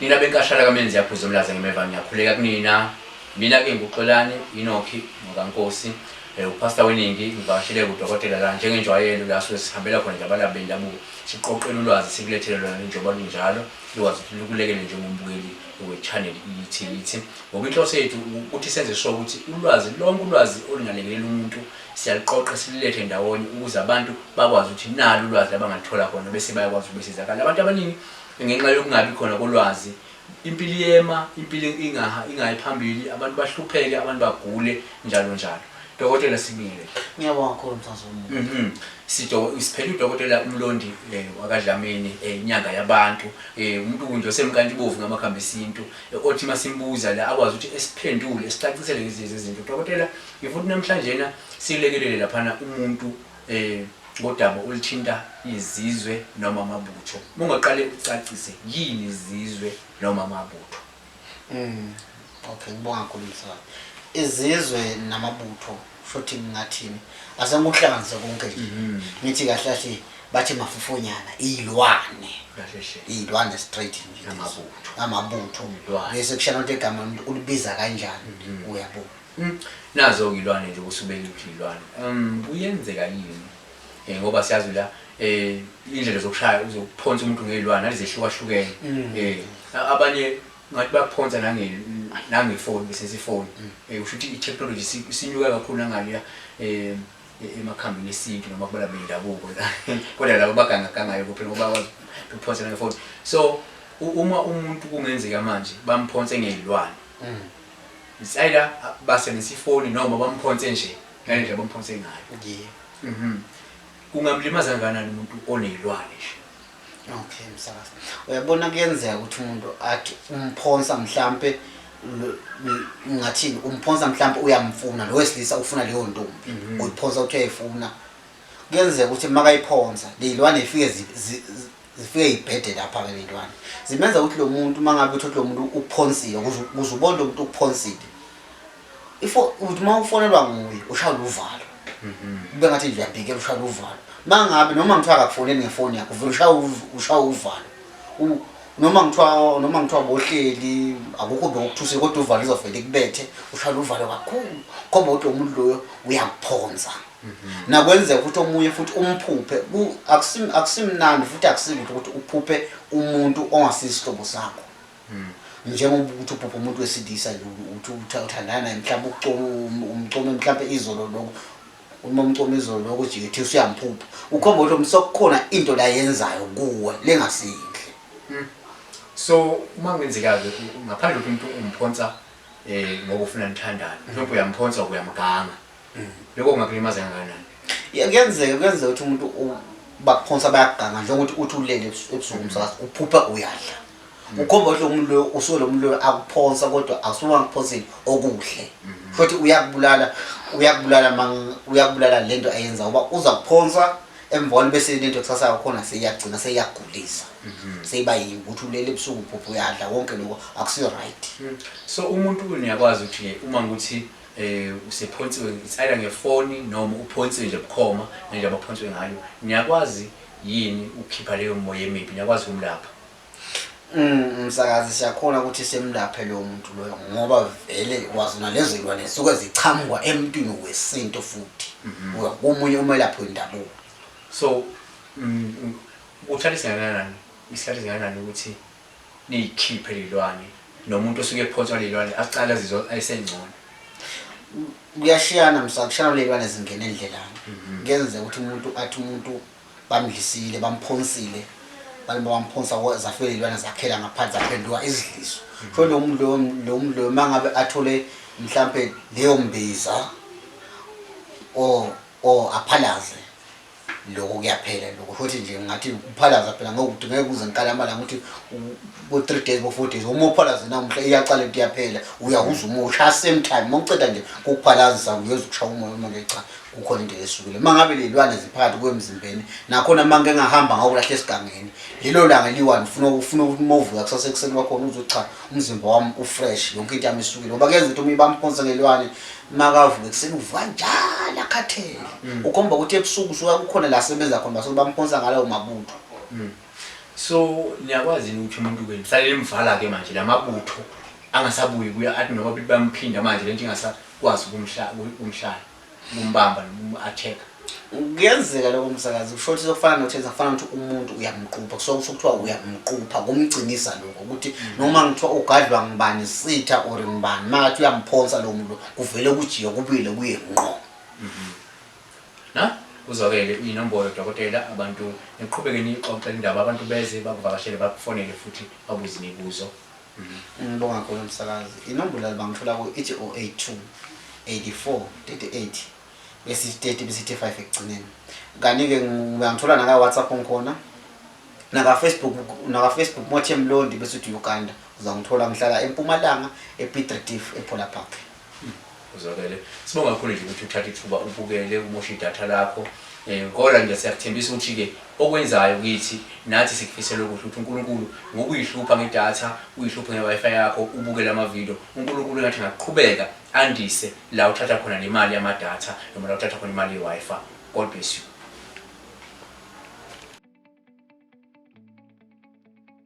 Nina benkashala kamenzi yaphuza umlaza ngemeva ngiyakhuleka kunina mina ke nguxolani inokhi ngokankosi Eh, upastor weningi ngivakashele kudokotela la njengenjwayelo la suke sihambela khona nje abalaphi bendabuko siqoqele ulwazi sikulethele lona njengoba lunjalo likwazi ukuthi lukulekele njengombukeli we-channel ithi ithi ngoba inhloso yethu ukuthi senze sure ukuthi ulwazi lonke ulwazi olungalekelela umuntu siyaluqoqa silulethe ndawonye ukuze abantu bakwazi ukuthi nalo ulwazi abangalithola khona bese bayakwazi ukubesizakala abantu abaningi Ngenxa yokungabi khona kolwazi, impilo iyema, impilo ingaha, ingayi phambili, abantu bahlupheke, abantu bagule, njalo njalo. Dokotela, sibingelele. Ngiyabonga kakhulu mfazi womuntu. Mhm. Sido, siphele udokotela uMlondi eh, wakaDlamini eh, inyanga yabantu eh, umuntu kunje osemkantshubovu ngamakhambi esintu eh, othi masimbuza la akwazi ukuthi esiphendule esicacisele lezi lezi zinto. Dokotela, ngifuna ukuthi namhlanjena silekelele laphana umuntu um ngodaba oluthinta izizwe noma amabutho mungaqale ucacise yini izizwe noma amabutho mm. okay ngibonga kakhulu msakazi izizwe namabutho futhi ngingathini asenguhlanganise konke nje mhm. ngithi kahle kahle bathi mafufonyana iyilwane iyilwane straight nje amabutho amabutho bese kushana into egama umuntu ulibiza kanjani mhm. uyabona Mm, nazo ilwane nje kusubeka ukuthi ilwane um kuyenzeka yini um ngoba siyazi la um indlela zokushaya zokuphonsa umuntu ngeyilwane alizehlukahlukene um abanye ngathi bakuphonsa nangefoni besese ifoni um mm. kusho ukuthi i-technology sinyuka kakhulu nangaliya um emakhambini esintu noma kubala bendabuko la kodwa labo bagangagangayo kuphela ngoba bakwazi ukuphonsa nangefoni so uma umuntu kungenzeka manje bamphonse ngeyilwane mm. It's either basebenzisa ifoni noma bamphonse nje ngale ndlela bamphonse ngayo. Yeah. Mhm. Kungamlimaza kanjani umuntu onezilwane nje? Okay msakazi. Uyabona kuyenzeka ukuthi umuntu athi umphonsa mhlambe ngathini umphonsa mhlambe uyamfuna lo wesilisa ufuna leyo ntombi. Mhm. Uyiphonsa uthi uyayifuna. Kuyenzeka ukuthi makayiphonsa lezilwane ifike zifike ibhede lapha ke lentwana zimenza ukuthi lo muntu uma ngabe uthi lo muntu uphonsile kuze ubone lo muntu uphonsile ifo uthi uma ufonelwa nguye ushayela uvalo mhm. ube ngathi nje uyabhikela ushayela uvalo uma ngabe noma ngithiwa akakufoneli ngefoni yakho vele ushaya uvalo noma ngithiwa noma ngithiwa bohleli akukho bekuthuse kodwa uvalo izovele kubethe ushayela uvalo kakhulu khomba ukuthi lo muntu loyo uyakuphonsa Mhm. nakwenzeka ukuthi omunye futhi umphuphe akusimnandi futhi akusilutho ukuthi uphuphe umuntu ongasisihlobo sakho mhm. njengoba ukuthi uphuphe umuntu wesilisa uthi uthandana naye mhlawumbe umcome mhlawumbe izolo lokho uma umcome izolo lokho ujike thi usuyamphupha ukhomba ukuthi umsokukhona into la yenzayo kuwe lengasinhle mhm. so uma kungenzeka-ke ngaphandle ukuthi umuntu umphonsa um ngoba ufuna nithandane mhlawumbe uyamphonsa uyamganga Lokho kungakulimaza kangakanani? Ya- Kuyenzeka kuyenzeka ukuthi umuntu u- bakuphonsa bayakuganga njengokuthi uthi ulele ebus- ebusuku umsakazi uphupha uyadla. Ukhomba ukuthi lo muntu loyo usuke lo muntu loyo akuphonsa kodwa akusuke angakuphonsile okuhle. Futhi uyakubulala uyakubulala mang uyakubulala le nto ayenza ngoba uza kuphonsa emva kwalo bese le nto kusasa yakhona seyagcina seyagulisa. Seyiba yini ukuthi ulele ebusuku uphupha uyadla konke lokho akusiyo right. So umuntu uyakwazi ukuthi uma ukuthi eh usephonsiwe it's either ngefoni noma uphonsiwe nje bukhoma nje abaphonsiwe ngayo niyakwazi yini ukukhipha leyo moya emibi niyakwazi ukumlapha mm, msakazi siyakhona ukuthi semlaphe lowo muntu loyo ngoba vele kwazi nalezo zilwane zisuke zichamukwa emntwini wesintu futhi mhm. uya komunye umelaphi wendabuko so mm, mm, uthatha isingakanani isikhathi esingakanani ukuthi niyikhiphe lelwane nomuntu osuke ephonswa lelwane aqale azizwa esengcono kuyashiyana msa kushiyana lelwane zingena endlelani mhm. kuyenzeka ukuthi umuntu athi umuntu bamdlisile bamphonsile balima bamphonsa zafike lelwane zakhela ngaphansi zaphenduka izidliso mhm. so lo muntu lo muntu lo mangabe athole mhlambe leyo mbiza o o aphalaze Lokho kuyaphela lokho futhi nje ngathi uphalaza phela ngokuthi ngeke kuze ngikale amalanga ukuthi bo 3 days bo 4 days uma uphalaza namuhla iyaqala into iyaphela uyahuza uma ushaya same time uma uceda nje ukuphalazisa uyoze ukushaya umoya uma ke cha kukhona into esukile mangabe lelwane ziphakathi kwemzimbeni nakhona manje engahamba ngokulahle esigangeni lelo langa liwani ufuna ufuna ukumovuka kusase kuseni kwakhona uzothi cha umzimba wami ufresh yonke into yami isukile ngoba kuyenza ukuthi uma ibamphonsa ngelwane makavuke ekuseni uvuka njalo akhathele mm. ukhomba ukuthi ebusuku usuka kukhona la sebenza khona basuke bamphonsa ngalawo mabutho mm. so niyakwazi yini ukuthi umuntu ke mhlale emvala ke manje la mabutho angasabuyi kuya athi noma bamphinda manje le nto ingasakwazi ukumhlala Mumbamba noma umu attack. Kuyenzeka lokho msakazi kusho ukuthi sokufana nothenza kufana ukuthi umuntu uyamqupha kusuke kusho kuthiwa uyamqupha kumgcinisa lokho ukuthi mm. noma ngithiwa ugadlwa ngibani sitha or ngibani makathi uyamphonsa lowo muntu kuvele kujike kubuyile kuye ngqo mm-hmm. na uzwakele inombolo dokotela abantu niqhubeke niyixoxe indaba abantu beze bakuvakashele bakufonele futhi babuze imibuzo Ngibonga kakhulu msakazi. Inombolo bangithola ku ithi 082 84 38 besithi 30 besithi 5 ekugcineni. Kanti ke ngiyangithola naka WhatsApp ngikhona. Naka Facebook naka Facebook Mothe Mlondi besithi Uganda. Uzangithola ngihlala eMpumalanga ePiet Retief ePola Park. Uzwakele. Sibonga kakhulu nje ukuthi uthathe ithuba ubukele umoshe idatha lakho. Eh kodwa nje siyakuthembisa ukuthi ke okwenzayo kithi nathi sikufisela ukuthi ukuthi uNkulunkulu ngokuyihlupha ngedatha, uyihluphe ngeWiFi yakho, ubukele ama video, uNkulunkulu engathi ngaqhubeka andise la uthatha khona nemali yamadatha noma la uthatha khona imali yeWiFi. God bless you.